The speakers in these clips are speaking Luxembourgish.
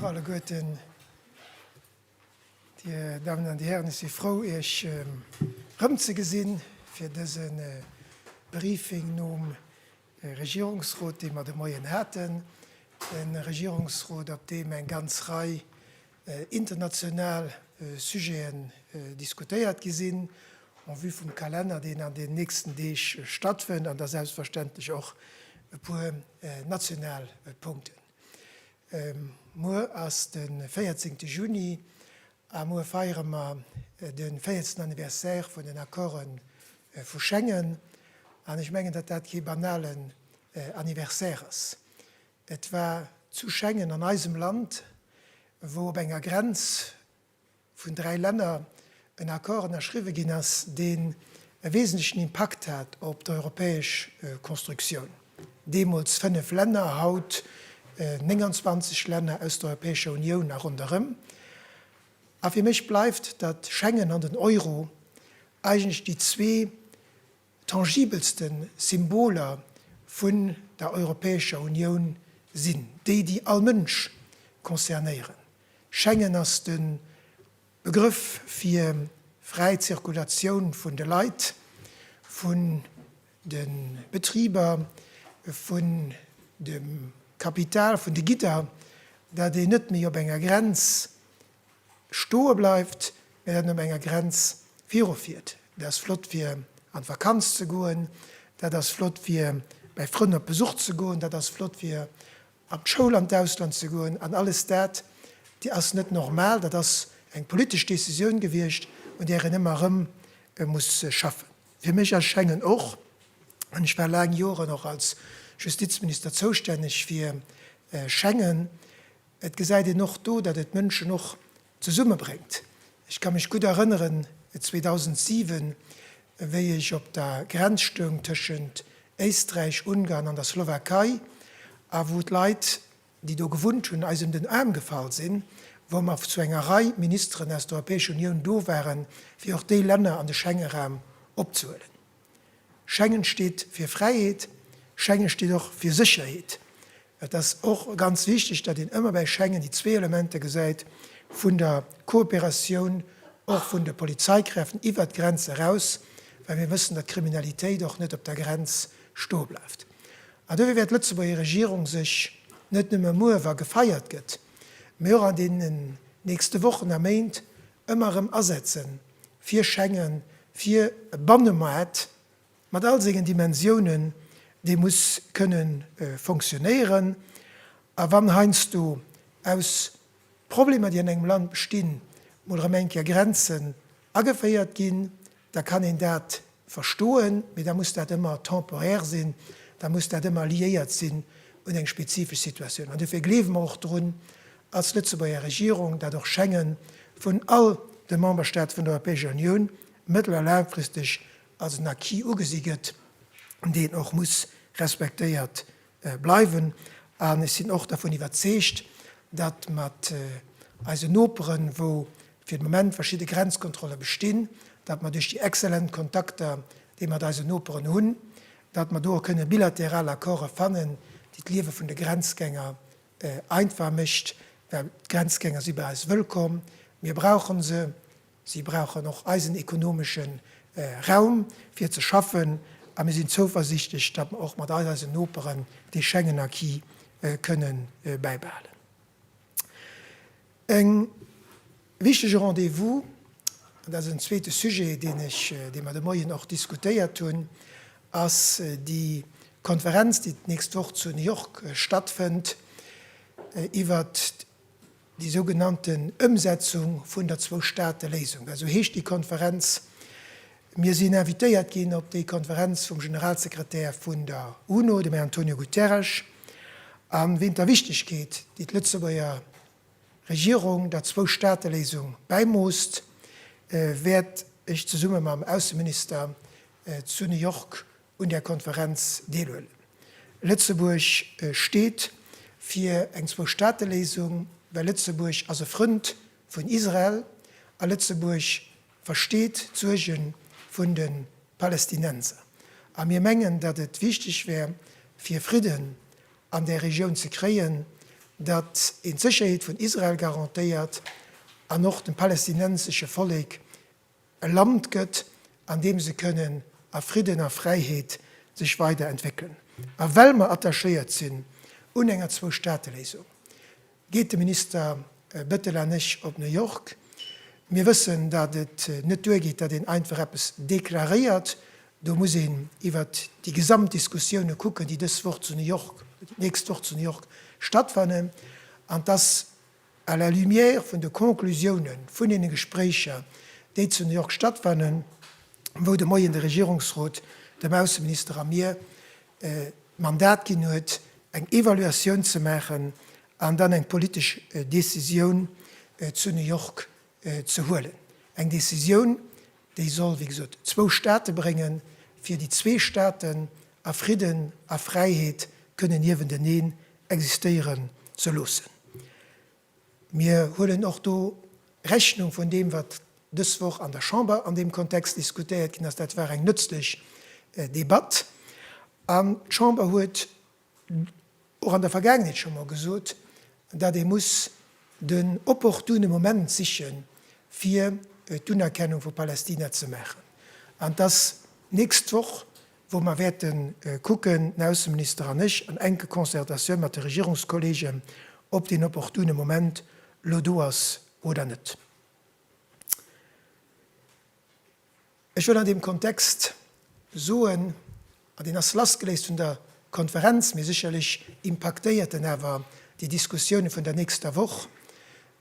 Bonjour alleguerten. Dir Damen an Dir Hären, ech si frou, Iech erëmzegesinn fir dëse Briefing nom De Regierungsrot, dee mer de Moien haten, e Regierungsrot, op deem eng ganz Rei international Sujeten diskutéiert gi sinn, en vue vum Kalenner, deen an den nächsten Deeg stattfënnt, an da selbstverständlech och e puer national Punkten. Muer ass de véierzéngte Juni A muer feiere mer de véiertsten Anniversaire vun den Accorde vu Schengen. An ech mengen, datt dat kee banalen Anniversaire ass. Et war zu Schengen, an eisem Land, wou op enger Grenz vun dräi Länner en Accord ënnerschriwwe ginn ass, deen e wesentlechen Impakt hat op d'europäesch Constructioun. Deemools 5 Länner, haut 29 Länner aus der Europäescher Unioun a ronderëm. A fir mech bleift, datt Schengen an den Euro eigentlech déi zwee tangibelste Symboler vun der Europäescher Unioun sinn, déi, déi all Mënsch concernéieren. Schengen ass de Begrëff fir fräi Zirkulatioun vun de Leit, vun De Betriber vun dem Kapital vun de Gidder, dat een net méi op enger Grenz stoe bleift, mä dat een op enger Grenz viru fiert, dat ass flott fir an d'Vakanz ze goen, dat ass flott fir bäi Frënn op Besuch ze goen, dat ass flott fir an d'Schoul an d'Ausland ze goen an alles dat ass net normal. Dat ass eng politesch Décisioun gewiescht un där een ëmmer erëm muss schaffen. Fir mech erschengen och, an ech war laang Joren och als Justizminister zoustänneg fir Schengen, et gesäit een och do, datt et Mënschen och zesummebréngt. Ech ka mech gutt erënneren 2007, wéi ech op der Grenz stoung tëschent Éisträich, Ungarn an der Slowakei a wou d'Leit déi do gewunnt hunn, eis un den Aarm gefall sinn, wou mer zu enger Rei Ministeren aus der Europäescher Unioun do waren, fir och déi Länner an de Schengenraum opzehuelen. Schengen steet fir Fräiheet, Schengen steet och fir Sécherheet. Et ass och ganz wichteg, datt een ëmmer bäi Schengen déi zwee Elementer gesäit vun der Kooperatioun, och vun de Polizeikräften iwwert d'Grenz eraus, well mir wëssen, datt d'Kriminalitéit och net op der Grenz stoe bleift. An dofir wäert d'Lëtzebuerger Regierung sech net nëmme muer, wa gefeiert gëtt, mee och an deenen nächste Wochen a Méint ëmmer erëm asetze fir Schengen, fir e Bannemaart mat all sengen Dimensiounen, dee muss kënne fonctionnéieren. A wann heiansdo aus Problemer, déi an engem Land bestinn, mol erëm eng Kéier Grenzen Ageféiert ginn, da kann een dat verstoen, mee da muss dat ëmmer temporaire sinn, da muss dat ëmmer liéiert sinn un eng spezifesch Situatioun. An dofir gleewe mer och drun als Lëtzebuerger Regierung, dat och Schengen vun all de Memberstaate vun der Europäescher Unioun mëttel a laangfristeg als en Acquis ugesi gëtt, deen och muss respektéiert bleiwen an ech sinn och dervun iwwerzeegt, datt mat eisen Noperen, wou fir de Moment verschidde Grenzkontrolle bestinn, datt mer duerch déi exzellent Kontakter, déi mer mat eisen Noperen hunn, datt mer do och kënne bilateral Accorde fannen, déi d'Liewe vun de Grenzgänger einfach mécht, well d'Grenzgänger si bei eis wëllkomm, mir brauche se. Si brauchen och eisen ekonomesche Raum, fir ze schaffen, a mir sinn zouversiichtlech, datt mer och mat all eisen Noperen dee Schengen-Acquis kënne bäibehalen. Eng wichtege Rendez-vous, an dat ass en zweete Sujet, deen ech, dee mer de Moien och diskutéiert hunn, ass déi Konferenz, déi d'nächst Woch zu New York stattfënnt iwwert, déi sougenannten Ëmsetzung vun der Zwou-Staate-Léisung, esou heescht déi Konferenz. Mir sinn invitéiert ginn op déi Konferenz vum Generalsekretär vun der UNO, dem Här Antonio Guterres, a ween der Wichtegkeet, déi d'Lëtzebuerger Regierung der Zwou-Staate-Léisung bäimoosst, wäert ech zesumme mam Ausseminister zu New York un där Konferenz deelhuelen. Lëtzebuerg steet fir eng Zwou-Staate-Léisung, well Lëtzebuerg ass e Frënd vun Israel a Lëtzebuerg versteet d'Suerge vun de Palästinenser. A mir mengen, datt et wichteg wär, fir Fridden an där Regioun ze kréien, datt een d'Sécherheet vun Israel garantéiert an och dem palästinensesche Vollek e Land gëtt, an deem se kënnen a Fridden a Fräiheet sech weider entwéckelen. A well mer attachéiert sinn un enger Zwou-Staate-Léisung, geet de Minister Bettel an ech op New York. Mir wëssen, datt et net duergeet, datt een einfach eppes deklaréiert. Do muss een iwwert déi gesamt Diskussiounen kucken, déi dës Woch zu New York, d'nächst Woch zu New York stattfannen, an dass À la lumière vun de Conclusioune vun deene Gespréicher, déi zu New York stattfannen, wou de Moien de Regierungsrot dem Ausseminister a mir d'Mandat ginn huet, eng Evaluatioun ze maachen an dann eng politesch Decisioun zu New York ze huelen. Eng Decisioun, déi soll, wéi gesot, zwou Staate bréngen, fir déi zwee Staaten a Fridden a Fräiheet kënnen niewenteneen existéieren ze loossen. Mir huelen och do Rechnung vun deem, wat dës Woch an der Chamber an deem Kontext diskutéiert ginn ass. Dat war eng nëtzlech Debatt an d'Chamber huet och an der Vergaangenheet scho mol gesot, datt ee muss den opportune Moment siche fir d'Unerkennung vu Palästina ze maachen. An et ass d'nächst Woch, wou mer wäerte kucken, den Ausseminister an ech, an enke Concertatioun mat de Regierungskollegen, ob deen opportune Moment elo do ass oder net. Ech wëll an deem Kontext soen, an deen ass lassgeléist vun der Konferenz, mee sécherlech impaktéiert en awer déi Diskussioune vun der nächster Woch,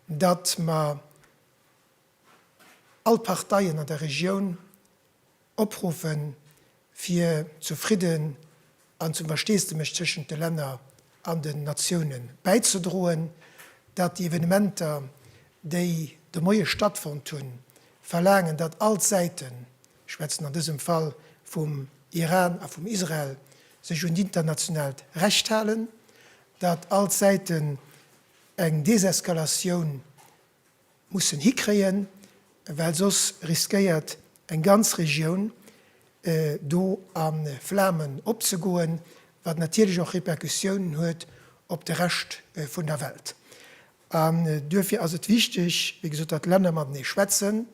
datt mer all d'Parteien an der Regioun opruffen, fir zu Fridden an zum Versteesdemech tëschent de Länner an den Natiounen bäizedroen, datt déi Evenementer, déi de Moie stattfonnt hunn, verlaangen, datt all d'Säiten, ech schwätzen an dësem Fall vum Iran a vum Israel, sech un d'internationaalt Recht halen, datt all d'Säiten eng Deseskalatioun mussen hikréien, well soss riskéiert eng ganz Regioun do a Flamen opzegoen, wat natierlech och Repercussiounen huet op de Rescht vun der Welt. An duerfir ass et wichteg, wéi gesot, datt d'Länner matenee schwätzen,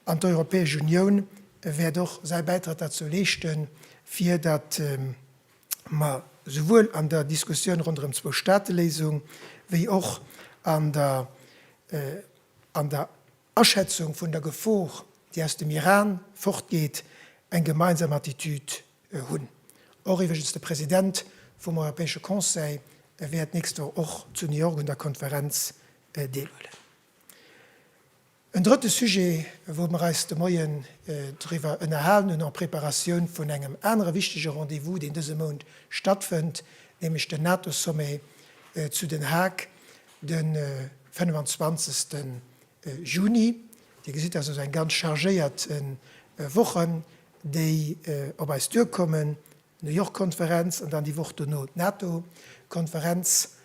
an d'Europäesch Unioun wäert och säi Bäitrag derzou leeschten, fir datt Ma souwuel an der Diskussioun ronderëm d'Zwou-Staate-Léisung wéi och an der an der Aschätzung vun der Gefor, déi aus dem Iran fortgeet, eng gemeinsam Attitüd hunn. Och iwwregens de President vum Europäesche Conseil wäert d'nächst Woch och zu New York un der Konferenz deelhuelen. En drëtte Sujet, wou mer eis de Moien driwwer ënnerhalen hunn en Preparatioun vun engem anere wichtege Rendez-vous, deen dëse Mount stattfënnt, nämlech den NATO-Sommet zu Den Haag de 25. Juni. Dir gesitt, dass also eng ganz chargéiert Wochen, déi op eis duerkommen. D'New York Konferenz an dann déi Woch dono d'NATO Konferenz,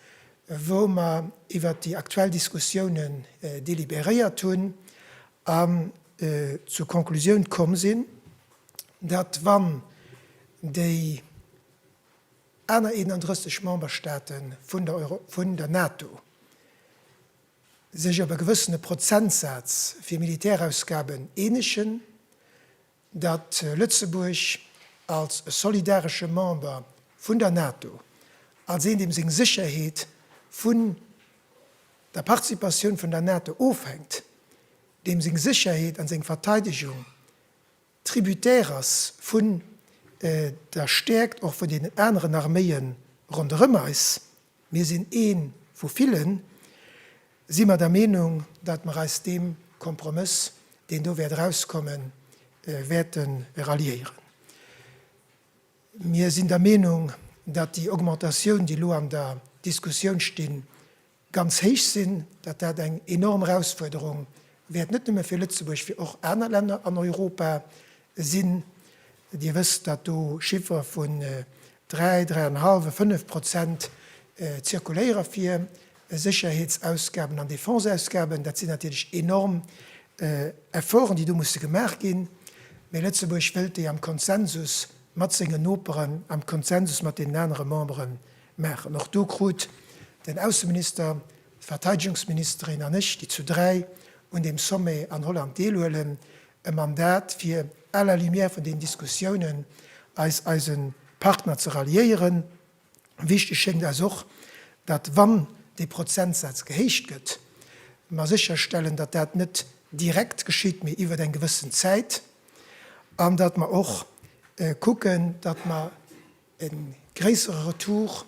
wou mer iwwert déi aktuell Diskussiounen délibéréiert hunn an zur Konklusioun komm sinn, datt wann déi aner 31 Memberstaate vun der NATO sech op e gewëssene Prozentsaz fir Militärausgaben eenegen, datt Lëtzebuerg als solidaresche Member vun der NATO, als een deem seng Sécherheet vun der Participatioun vun der NATO ofhänkt, deem seng Sécherheet an seng Verteidegung tributaire ass vun der Stäerkt och vun deenen aneren Arméie ronderëm eis, Mir sinn ee vu villen. Si mer der Meenung, datt mer eis deem Kompromëss, deen do wäert erauskommen, wäerte ralliéieren. Mir sinn der Meenung, datt déi Augmentatioun, déi elo an der Diskussioun stinn, ganz héich sinn, datt dat eng enorm Erausfuerderung wäert net nëmme fir Lëtzebuerg, fir och aner Länner an Europa sinn. Dir wësst, datt do Chiffere vu dräi, dräienhallef a fënnef Prozent zirkuléiere fir Sécherheetsausgaben an Defenseausgaben. Dat sinn natierlech enorm Efforten, déi do musse gemaach ginn. Mee Lëtzebuerg wëllt déi am Konsensus mat sengen Noperen, am Konsensus mat deenen anere Membere maachen. Och do krut den Ausseminister, d'Verteidegungsministerin an ech, déi zu dräi un deem Sommet an Holland deelhuelen, E Mandat fir à la lumière vun den Diskussiounen eis eise Partner ze ralliéieren. Wichteg schéngt eis och, datt wann dee Prozentsaz gehéicht gëtt, mer sécherstellen, datt dat net direkt geschitt, mee iwwert eng gewëssen Zäit, an datt mer och kucken, datt mer, e gréissere Retour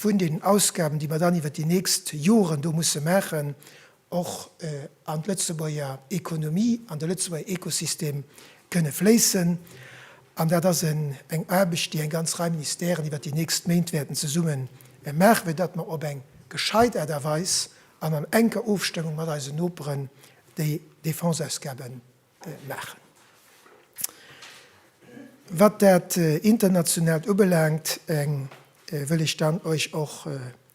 vun den Ausgaben, déi mer dann iwwert déi nächst Joren do musse maachen, och an d'Lëtzebuerger Ekonomie, an de Lëtzebuerger Ekosystem kënne fléissen. An dat ass eng Aarbecht, déi eng ganz Rei Ministèren iwwert déi nächst Méint wäerten zesumme maachen, fir datt mer op eng gescheit Aart a Weis an an enker Ofstëmmung mat eisen Noperen déi Défenseausgabe maachen. Wat dat Internationaalt ubelaangt, wëll ech dann Iech och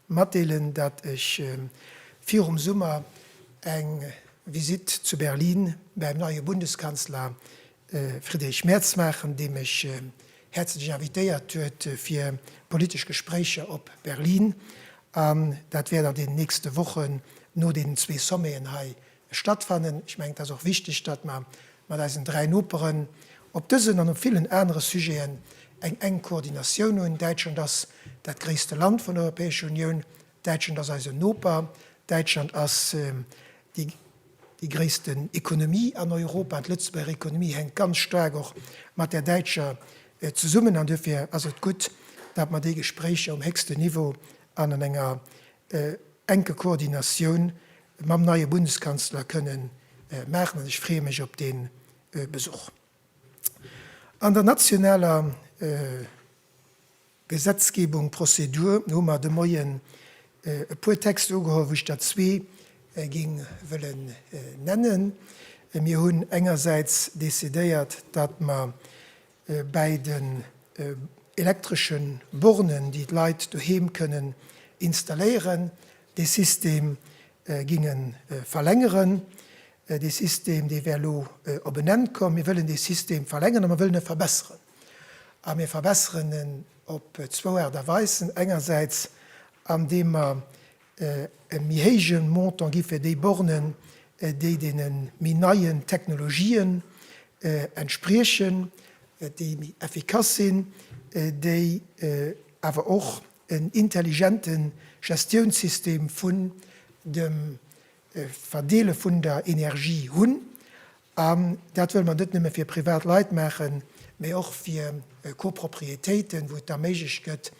matdeelen, datt ech virum Summer eng Visitt zu Berlin bäim neie Bundeskanzler Friedrich Merz maachen, dee mech häerzlech invitéiert huet fir politesch Gespréicher op Berlin. An dat wäert an den nächste Wochen no deenen zwee Sommeten hei stattfannen. Ech mengen, et ass och wichteg, datt mer mat eisen dräi Noperen op dësen an op villen anere Sujeten eng enk Koordinatioun hunn. Däitschland ass dat gréisste Land vun der Europäescher Unioun. Däitschland ass eisen Noper. Däitschland ass déi déi gréissten Ekonomie an Europa an d'Lëtzebuerger Ekonomie hänkt ganz staark och mat där däitscher zesummen. An duerfir ass et gutt, datt mer déi Gespréicher um héchsten Niveau an an enger enke Koordinatioun mam neie Bundeskanzler kënnen maachen an ech freeë mech op dee Besuch. An der nationaler Gesetzgebung, Prozedur, hu mer de Moien e puer Texte ugeholl, wou ech der zwee géing wëllen nennen. Mir hunn engersäits decidéiert, datt mer Bäi den elektresche Bornen, déi d'Leit doheem kënnen installéieren, dee System ginge verlängeren. Dee System, dee wär elo op en Enn komm. Mir wëllen dee System verlängeren a mir wëllen e verbesseren. A mir verbesseren en op zwou Aart a Weisen. Engersäits andeem mer e méi héije Montant gi fir déi Bornen, déi deene méi neien Technologien entspriechen, déi méi effikass sinn, déi awer och en intelligente Gestiounssystem vun dem Verdeele vun der Energie hunn An dat wëlle mer net nëmme fir privat Leit maachen, mee och fir Copropriétéiten, wou et da méiglech gëtt,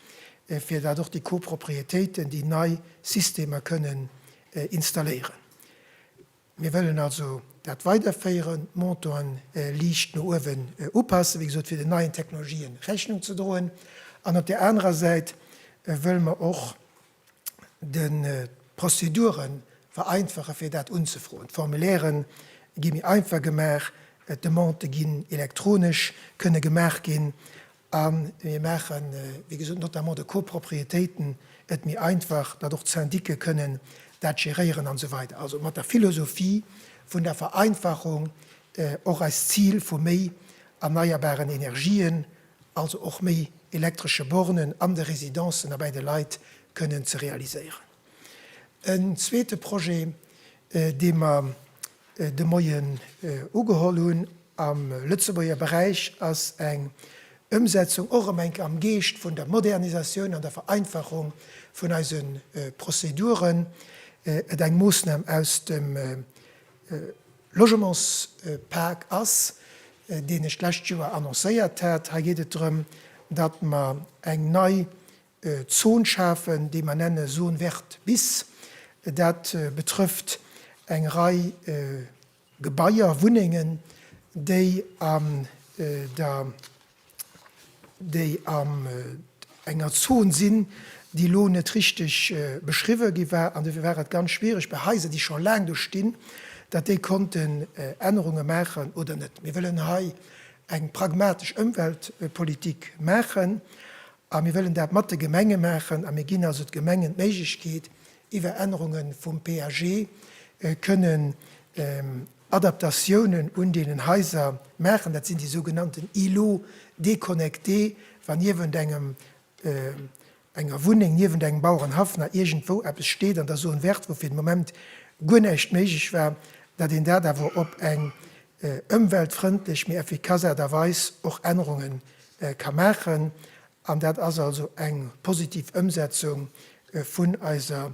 fir dat och déi Copropriétéiten, déi nei Systemer kënnen installéieren. Mir wëllen also dat weiderféieren, d'Montanten liicht no uewen upassen, wéi gesot fir den neien Technologien Rechnung ze droen. An op där anerer Säit wëlle mer och de Prozedure vereinfachen, fir dat unzefroen. D'Formulaire gi méi einfach gemaach, d'Demandë ginn elektronesch kënne gemaach ginn a mir maache wéi gesot notamment de Copropriétéiten et méi einfach, datt och d'Syndiquë kënnen dat geréieren an esou weider. Also mat der Philosophie vun der Vereinfachung och eist Zil vu méi erneierbaren Energien, also och méi elektresche Bornen an de Residencen a bäi de Leit, kënnen ze realiséieren. En zweete Projet, dee mer de Moien ugeholl hunn am Lëtzebuerger Beräich, ass eng Ëmsetzung, och ëm enk am Geescht vun der Modernisatioun an der Vereinfachung vun eise Prozeduren, et eng Moossnam aus dem Logementspak ass, deen ech d'lescht Joer annoncéiert hat. Hei geet et drëm, datt mer eng nei Zon schafen, déi mer nenne Zone verte bis. Dat betrëfft eng Rei Gebaier, Wunnengen, déi an der. déi an enger Zon sinn, déi elo net richteg beschriwwe gi war, an dofir war et ganz schwierig bei Haiser, déi scho laang do stinn, datt déi konnten Ännerunge maachen oder net. Mir wëllen hei eng pragmatesch Ëmweltpolitik maachen a mir wëllen dat mat de Gemenge maachen a mir ginn also de Gemengen d'Méiglechkeet, iwwer Ännerunge vum PAG kënnen, Adaptatiounen un deenen Haiser maachen. Dat sinn déi sougenannten Îlots déconnectés, wa niewent engem, enger Wunneng, niewent engem Bauerenhaff nach iergendwou eppes steet an da soen, wäert, wou fir den Moment guer näischt méiglech war, datt een dat awer op eng ëmweltfrëndlech, mee effikass Aart a Weis och Ännerunge ka maachen. An dat ass also eng positiv Ëmsetzung vun eiser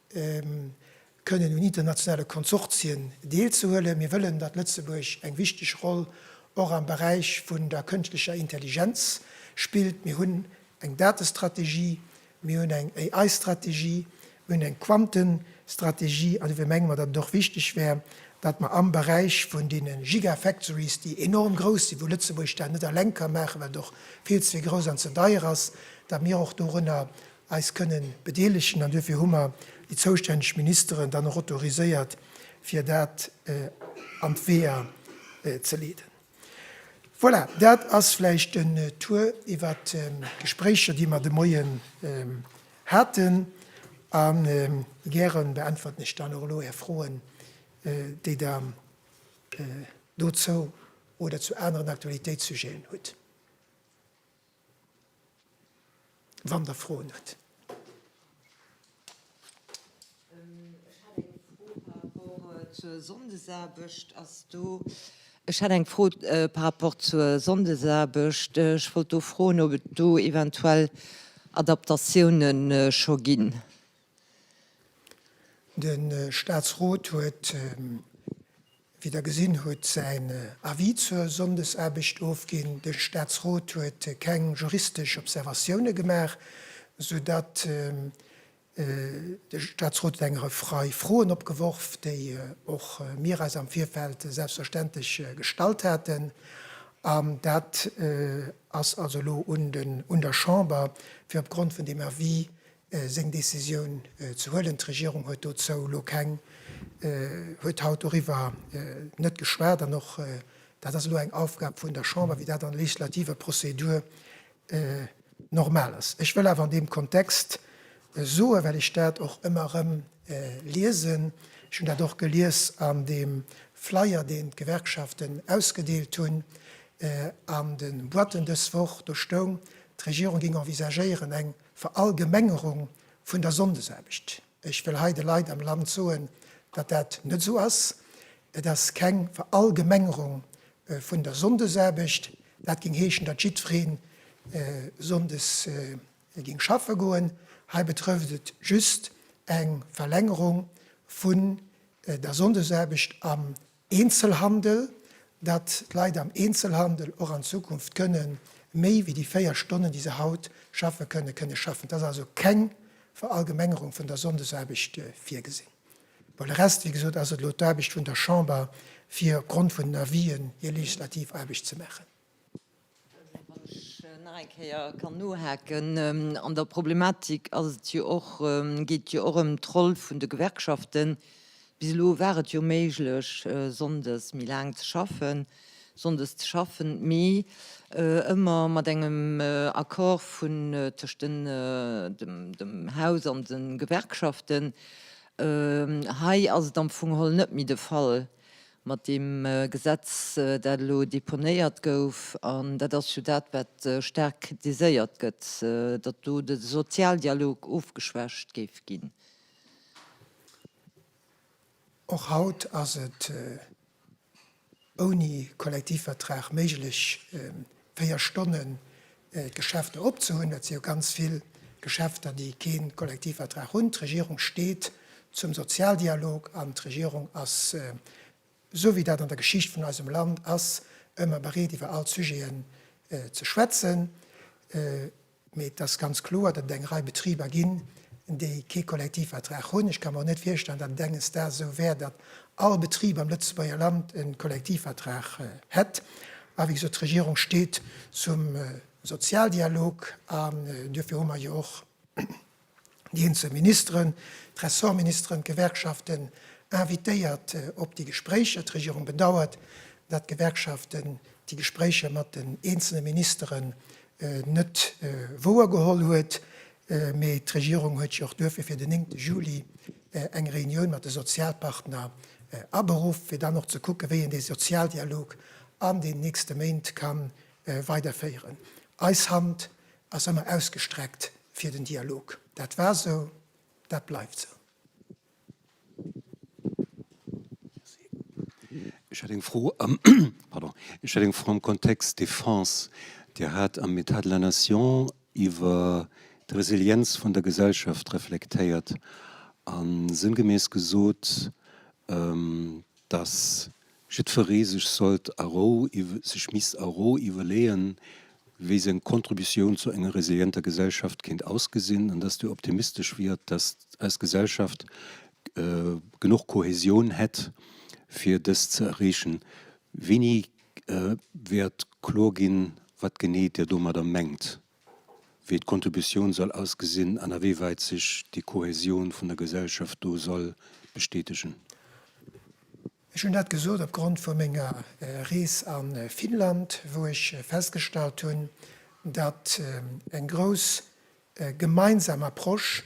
kënnen un internationale Konsortien deelzehuelen. Mir wëllen, datt Lëtzebuerg eng wichteg Roll och am Beräich vun der kënschtlecher Intelligenz spillt. Mir hunn eng Datestrategie, mir hunn eng AI-Strategie, mir hunn eng Quantenstrategie, an dofir menge mer, datt et och wichteg wär, datt mer am Beräich vun deene Gigafactories, déi enorm grouss sinn, wou Lëtzebuerg dat net eleng ka maachen, well et och vill ze grouss an ze deier ass, datt mir och dorunner eis kënnen bedeelegen an duerfir hu mer déi zoustänneg Ministeren dann och autoriséiert, fir dat an d'Weeër ze leeden. Voilà, dat ass vläicht en Tour iwwert d'Gespréicher, déi mer de Moien haten, a gäre beäntwerten ech dann och elo Är Froen, déi Der dozou oder zu aneren Aktualitéitssujeten hutt. Wann der Froen hutt. Ech hätt eng Fro par rapport zur Sonndesaarbecht. Ech wollt do froen, ob et do eventuell Adaptatiounen scho ginn. De Staatsrot huet, wéi Der gesinn hutt, säin Avis zur Sonndesaarbecht ofginn. De Staatsrot huet keng juristesch Observatioune gemaach, soudatt de Staatsrot et eng Rei Froen opgeworf, déi och mir eis am Virfeld selbstverständlech gestallt haten. An dat ass also elo un der Chamber, fir opgrond vun deem Avis seng Décisioun ze huelen. D'Regierung huet dozou elo keng, huet haut doriwwer net geschwat. An och dat ass elo eng Aufgab vun der Chamber, wéi dat an der legislativer Prozedur normal ass. Ech wëll awer an deem Kontext soen, well ech dat och ëmmer erëm liesen, ech hunn dat och gelies an deem Flyer, deen d'Gewerkschaften ausgedeelt hunn, an de Boîten dës Woch, do stoung, d'Regierung géing envisagéieren eng, Verallgemengerung vun der Sonndesaarbecht. Ech wëll hei de Leit am Land soen, datt dat net esou ass. Et ass keng Verallgemengerung vun der Sonndesaarbecht. Dat géing heeschen, datt jiddweree sonndes géing schaffe goen. Hei betrëfft et just eng Verlängerung vun der Sonndesaarbecht am Eenzelhandel, datt d'Leit am Eenzelhandel och an Zukunft kënne méi wéi déi véier Stonnen, déi se haut schaffe kënnen, kënne schaffen. Et ass also keng Verallgemengerung vun der Sonndesaarbecht virgesinn. Bon, le reste, wéi gesot, ass et elo d'Aarbecht vun der Chamber, fir opgrond vun den Avisen hir legislativ Aarbecht ze maachen. Wann ech nach eng Kéier kann nohaken an der Problematik, ass et jo och, geet jo och ëm d'Roll vun de Gewerkschaften. Bis elo war et jo méiglech, sonndes méi laang ze schaffen, sonndes ze schaffen, mee ëmmer mat engem Accord vun, tëscht den, dem Haus an de Gewerkschaften. Hei ass et am Fong holl net méi de Fall. mat deem Gesetz, dat elo deponéiert gouf, an dat ass jo dat, wat staark kritiséiert gëtt, datt do de Sozialdialog ofgeschwächt géif ginn. Och haut ass et ouni Kollektivvertrag méiglech, 4 Stonnen d'Geschäfter op ze hunn. Et si jo ganz vill Geschäfter, déi kee Kollektivvertrag hunn. D'Regierung steet zum Sozialdialog an d'Regierung ass, esou wéi dat an der Geschicht vun eisem Land ass, ëmmer bereet iwwer all Sujeten ze schwätzen. Mee et ass ganz kloer, datt et eng Rei Betriber ginn, déi kee Kollektivvertrag hunn. Ech ka mer och net virstellen, datt et enges Daags esou wär, datt all Betrib am Lëtzebuerger Land e Kollektivvertrag hätt. A wéi gesot, d'Regierung steet zum Sozialdialog an duerfir hu mer jo och déi eenzel Ministeren, d'Ressortministeren, d'Gewerkschaften invitéiert op déi Gespréicher. D'Regierung bedauert, datt d'Gewerkschaften déi Gespréicher mat den eenzele Ministeren net wouergeholl huet. Mee d'Regierung huet jo och duerfir fir den 9 Juli eng Reunioun mat de Sozialpartner aberuff, fir dann och ze kucken, wéi een dee Sozialdialog an den nächste Méint ka weiderféieren. Eis Hand ass ëmmer ausgestreckt fir den Dialog. Dat war esou, dat bleift esou. Ech hätt eng Fro, pardon, ech hätt eng Fro am Kontext Defense. Dir hat am État de la Nation iwwer d'Resilienz vun der Gesellschaft reflektéiert a sënngemäss gesot, dass jiddferee sech sollt a Rou iw-, sech misst a Rou iwwerleeën, wéi seng Kontributioun zu enger resilienter Gesellschaft kéint ausgesinn, an dass Dir optimistesch wiert, dass eis Gesellschaft genuch Kohäsioun hätt, fir dëst ze erreechen. Wéini wäert kloer ginn, wat genee Dir domadder mengt? wéi d'Kontributioun soll ausgesinn an awéiwäit sech déi Kohäsioun vun der Gesellschaft do soll bestätegen. Ech hunn dat gesot opgrond vu menger Rees a Finnland, wou ech festgestallt hunn, datt eng grouss gemeinsam Approche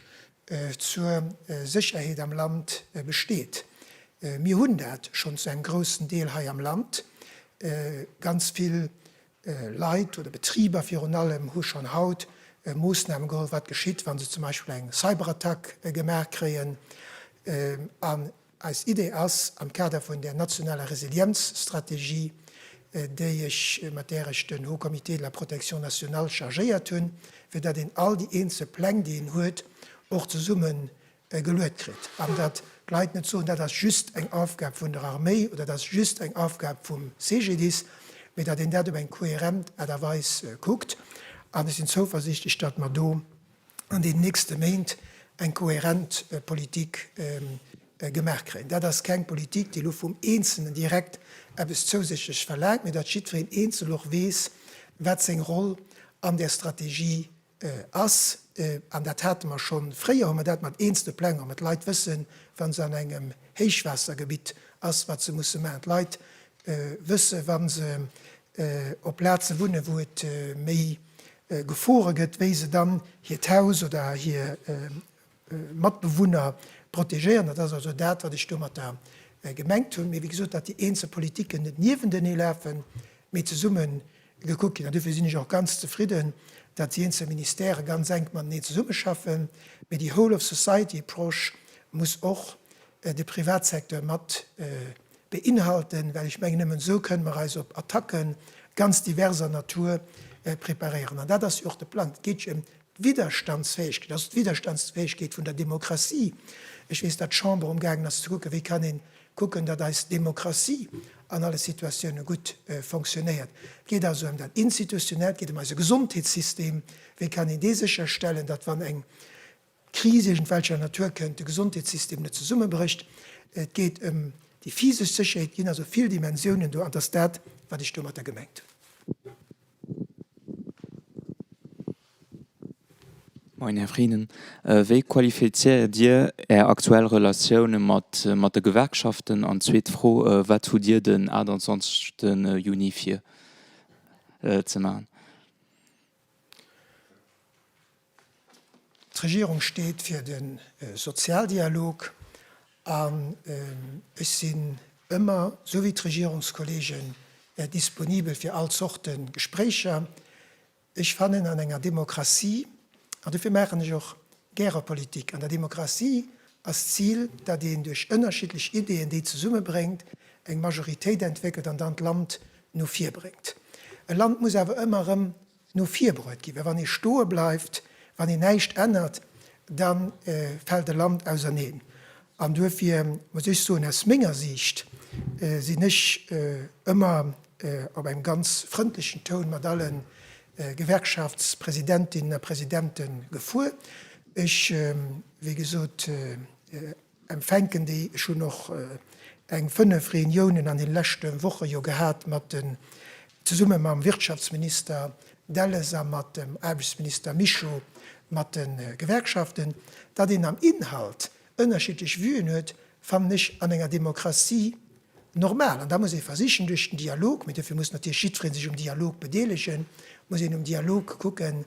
zur Sécherheet am Land besteet. Mir hunn dat schonn zu engem groussen Deel hei am Land, ganz vill Leit oder Betriber virun allem hu schonn haut Moossname geholl, wat geschitt, wa se zum Beispill eng Cyberattack gemaach kréien. An eis Idee ass, am Kader vun där nationaler Resilienzstrategie, déi ech, mat där ech den Haut Comité de la protection nationale chargéiert hunn, fir datt een all déi eenzel Pläng, déi een huet, och zesumme geluet kritt, an datt d'Leit net soen, dat ass just eng Aufgab vun der Arméi oder dat ass just eng Aufgab vum CGDIS, mee datt een dat op eng kohärent Aart a Weis kuckt. An ech sinn zouversiichteg, datt mer do an deenen nächste Méint eng kohärent Politik gemaach kréien. Dat ass keng Politik, déi elo vum Eenzelnen direkt eppes zousätzlech verlaangt, mee datt jiddwereen eenzel och weess, wat seng Roll an där Strategie ass, an dat hate mer schonn fréier, hu mer dat mat eenzelne Plänger, mä d'Leit wëssen, wa se an engem Héichwaassergebitt ass, wat se musse maachen. D'Leit wësse wa se op Plaze wunne wou et méi Gefore gëtt, wéi se dann hiert Haus oder hir Matbewunner protegéieren. Dat ass also dat, wat ech domatter gemengt hunn. Mee wéi gesot, datt déi eenzel Politiken net niewentenee lafen, mee zesumme gekuckt ginn. An dofir sinn ech och ganz zefridden, datt déi eenzel Ministèrë ganz enk matenee zesummeschaffen. Mee déi whole of society approche muss och de Privatsecteur mat beinhalten, well ech mengen, nëmmen esou kënne mer eis op Attacke ganz diverser Natur preparéieren. An dat ass jo och de Plang. Et geet jo ëm D'Widderstandsfäegkeet, also d'Widderstandsfäegkeet vun der Demokratie. Ech weess, datt d'Chamber amgaangen ass ze kucken, wéi kann ee kucken, datt eis Demokratie an alle Situatioune gutt fonctionnéiert. Et geet also ëm dat Institutionellt, et geet ëm eise Gesondheetssystem. Wéi kann een dee sécherstellen, datt wann eng Kris iergendwelcher Natur kënnt, de Gesondheetssystem net zesummebrécht. Et geet ëm déi physesch Sécherheet. Et ginn also vill Dimensiounen do an et ass dat, wat ech domatter gemengt hunn. Moien Här Frieden, wéi qualifizéiert Dir Är aktuell Relatioune mat de Gewerkschaften? An zweet Fro, wat hutt Dir den 28 Juni vir ze maachen? D'Regierung steet fir de Sozialdialog an ech sinn ëmmer, sou wéi d'Regierungskollegen, disponibel fir all Zorte Gespréicher. Ech fannen an enger Demokratie, an dofir maachen ech och gäre Politik, an der Demokratie ass d'Zil, datt een duerch ënnerschiddlech Ideeën, déi zesummebréngt, eng Majoritéit entwéckelt an dann d'Land no vir bréngt. E Land muss awer ëmmer erëm no vir bruet ginn, well wann ee stoe bleift, wann een näischt ännert, da fält e Land auserneen. An duerfir muss ech soen, aus menger Siicht sinn ech ëmmer op engem ganz frëndlechen Toun mat alle Gewerkschaftspresidentinnen a presidente gefuer. Ech, wéi gesot, Empfänken, déi ech hunn och eng 5 Reuniounen an den leschte Woche jo gehat mat den, zesumme mam Wirtschaftsminister Delles a mat dem Aarbechtsminister Mischo, mat de Gewerkschaften. Datt een am Inhalt ënnerschiddlech Vuen huet, fannen ech an enger Demokratie normal. An da muss ee versichen duerch den Dialog, mee dofir muss natierlech jiddweree sech um Dialog bedeelegen, muss een um Dialog kucken,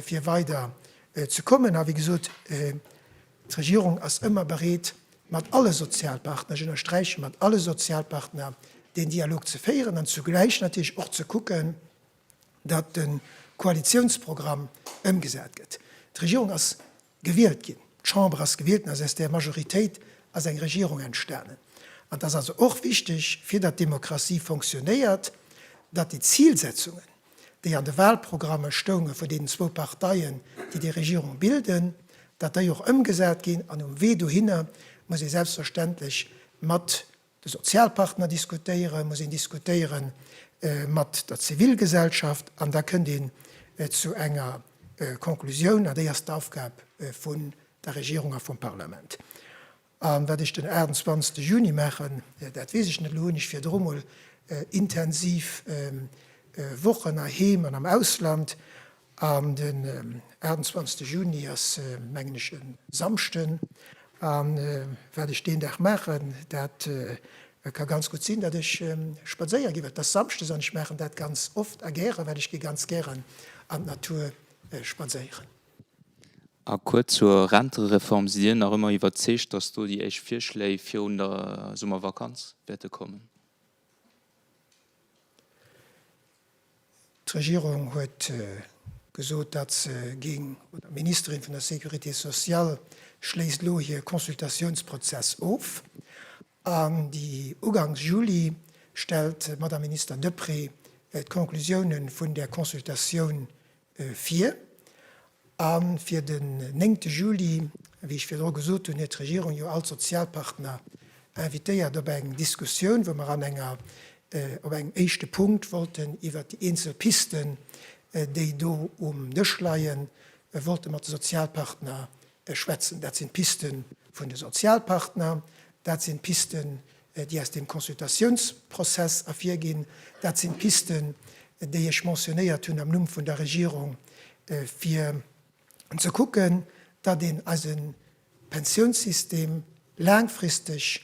fir weider ze kommen. A wéi gesot, D'Regierung ass ëmmer bereet, mat alle Sozialpartner, ech ënnersträichen, mat alle Sozialpartner deen Dialog ze féieren an zugläich natierlech och ze kucken, datt de Koalitiounsprogramm ëmgesat gëtt. D'Regierung ass gewielt ginn, d'Chamber ass gewielt ginn, aus s där Majoritéit ass eng Regierung entstanen. An et ass also och wichteg, fir datt d'Demokratie fonctionnéiert, datt déi Zilsetzungen, déi an de Wahlprogramme stounge vun deenen zwou Parteien, déi déi Regierung bilden, datt déi och ëmgesat ginn. An um Wee dohinner muss ee selbstverständlech mat de Sozialpartner diskutéieren, muss een diskutéiere mat der Zivilgesellschaft an da kënnt een zu enger Konklusioun. An déi ass d'Aufgab vun der Regierung a vum Parlament. A wat ech den 28 Juni maachen, dat weess ech net. Elo hunn ech virdru mol intensiv Wochen heiheem an am Ausland. An den 28 Juni ass, mengen ech, e Samschden. A wat ech deen Dag maachen, dat ka ganz gutt sinn, datt ech spadséier ginn. Et ass samschdes an ech maachen dat ganz oft a gäre, well ech gi ganz gären an d'Natur spadséieren. A kuerz zur Rentereform, Sidd Dir nach ëmmer iwwerzeegt, datt do déi éischt Virschléi virun der Summervakanz wäerte kommen? D'Regierung huet gesot, datt se géing, oder d'Ministerin vun der Sécurité sociale schléisst elo hir Consultatiounsprozess of, an déi ugangs Juli stellt d'Madame Minister Deprez d'Conclusiounen vun där Consultatioun Fir, a fir den 9 Juli, wéi ech virdru gesot hunn, huet d'Regierung jo all d'Sozialpartner invitéiert op eng Diskussioun, wou mer an enger, op engem éischte Punkt wollten iwwert déi eenzel Pisten, déi do um Dësch leien, wollte mat de Sozialpartner Ech schwätzen, dat sinn d'Piste vun de Sozialpartner, dat sinn d'Pisten, déi aus deem Consultatiounsprozess ervirginn, dat sinn d'Pisten, déi ech mentionnéiert hunn am Numm vun der Regierung, fir ze kucken, datt een eise Pensiounssystem laangfristeg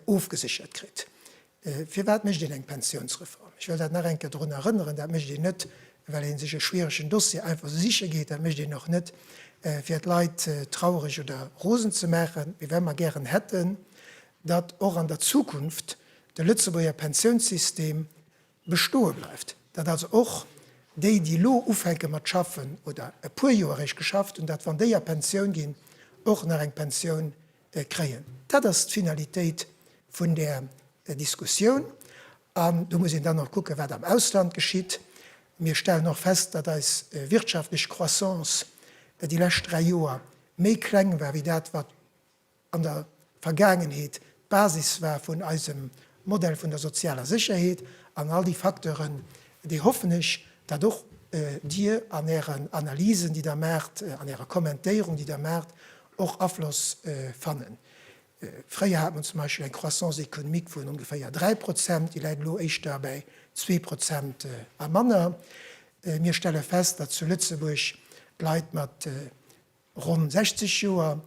ofgeséchert kritt. Firwat mécht een eng Pensiounsreform? Ech wëll dat nach eng Kéier drun erënneren, Dat mécht een net, well ee sech e schwieregen Dossier einfach esou siche geet. Dat mécht een och net, fir d'Leit traureg oder rosen ze maachen, mee well mer gären hätten, datt och an der Zukunft de Lëtzebuerger Pensiounssystem bestoe bleift, datt also och déi, déi elo ufänke mat schaffen oder e puer Joer eréischt geschafft hunn, datt, wann déi a Pensioun ginn, och nach eng Pensioun kréien. Dat ass d'Finalitéit vun där Diskussioun. An do muss een dann och kucken, wat am Ausland geschitt. Mir stellen och fest, datt eis wirtschaftlech Croissance déi lescht dräi Joer méi kleng war wéi dat, wat an der Vergaangenheet d'Basis war vun eisem Modell vun der sozialer Sécherheet. An all déi Facteuren, déi hoffen ech, datt och Dir an Ären Analysen, déi Der maacht, an Ärer Kommentéierung, déi Der maacht, och Afloss fannen. Fréier hat mer zum Beispill eng Croissance économique vun ongeféier 3 Prozent, déi läit elo éischter bäi zwee Prozent a manner. Mir stelle fest, datt zu Lëtzebuerg d'Leit mat ronn 60 Joer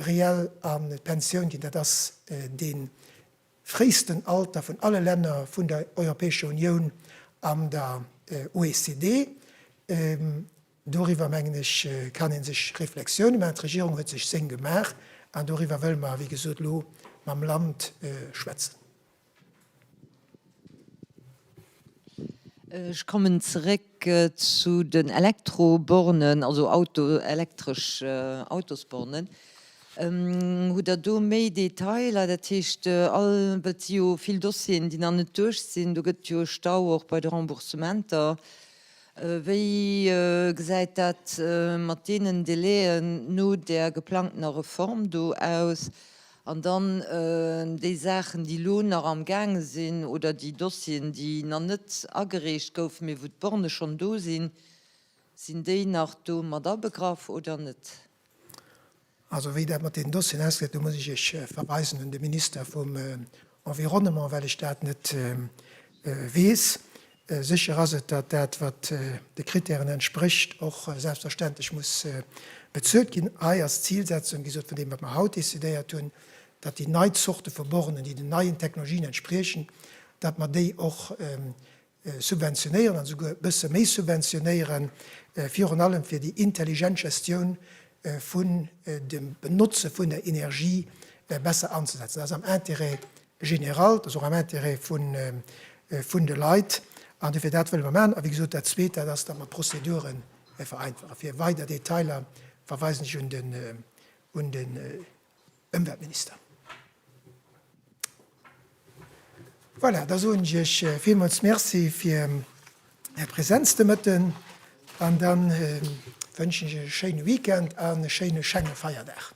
reell an d'Pensioun ginn. Dat ass dee fréisten Alter vun alle Länner vun der Europäescher Unioun an der OECD. Doriwwer, mengen ech, kann ee sech Reflexiounen maachen. D'Regierung huet sech seng gemaach an doriwwer wëlle mer, wéi gesot, elo mam Land schwätzen. Ech kommen zeréck zu den Elektrobornen, also elektresch Autosbornen. Hutt Der do méi Detailer? Dat heescht, all et si jo vill Dossieren, déi nach net duerch sinn. Do gëtt et jo e Stau och bei de Remboursementer. Wéi gesäit dat mat deenen Délai'en no där geplangtener Reform do aus? An dann déi Saachen, déi elo nach am gaange sinn, oder déi Dossieren, déi nach net agereecht goufen, mee wou d'Bornë schonn do sinn, sinn déi nach do mat abegraff oder net? Also wéi dat mat deenen Dossieren ausgesäit, do muss ech Iech verweisen un de Minister vum Environnement, well ech dat net weess. Sécher ass et, datt dat, wat de Krittären entsprécht, och selbstverständlech muss bezuelt ginn. Hei ass d'Zilsetzung, wéi gesot, vun deem, wat mer haut decidéiert hunn, datt déi nei Zorte vu Bornen, déi den neien Technologien entspriechen, datt mer déi och subventionéieren an esouguer e bësse méi subventionéieren, virun allem fir déi intelligent Gestioun vun dem Benotze vun der Energie besser anzesetzen. Dat ass am Intérêt général, dat ass och am Intérêt vun de Leit an dofir dat wëlle mer maachen. A wéi gesot, dat Zweet, dat ass, datt mer d'Prozedure vereinfachen. Fir weider Detailer verweisen ech un de. Ëmweltminister. Voilà, da soen ech Iech villmools Merci fir Är Präsenz de Mëtten an dann wënschen ech Iech e schéine Weekend an e schéine Schengefeierdag.